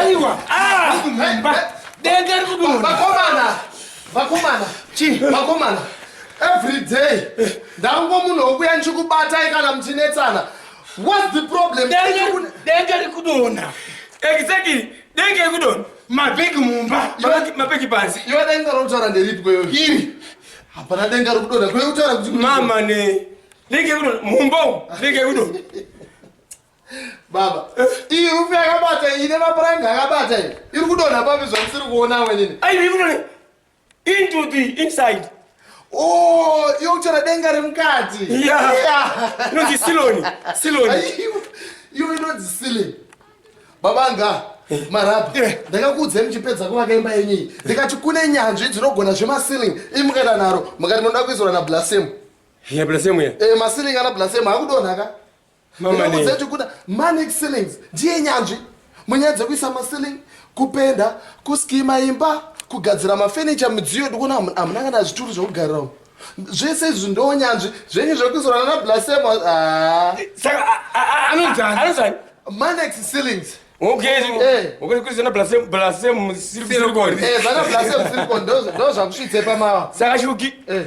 aiwa aimba denga ri kudonavakomana vakomana chi vakomana every day ndango munhu wokuya ndichikubatai kana muchinetsana whats the problem denga ri kudona exactly denga ri kudona mabhegi mumba mabhegi panze iwe denga routaura nderipi kweyo iri hapana denga ri kudona kweyo utaura kuti mama ne Lege kuno mumbo, lege kuno. Baba, iyi rufu yakabata ine mapuranga yakabata iyi. Iri kudonha papi zvamusiri kuona wenini? Ai iri kudonha into the inside. Oh, iyo kuchera denga remukati. Yeah. yeah. Inonzi siloni, siloni. Iyo inonzi siloni. Baba nga eh. marabha eh. ndakakuudzai muchipedza kuvaka imba yenyu iyi ndikati kune nyanzvi dzinogona zvemasiling imukaita naro mukati munoda kuizora nablasemu ya blasem ya eh masiling ana blasem akudonha ka mama ne kuti kuna manic ceilings ndiye nyanzvi munyaya dzekuisa masiling kupenda kuskima imba kugadzira mafenicha midziyo ndikuona hamuna kana zvituru zvekugarira umu zvese izvi ndonyanzvi zvenyu zvekuisirana na blasem ah. saka anonzani manex ceilings ndozvakusvitse pamawa saka shuki eh.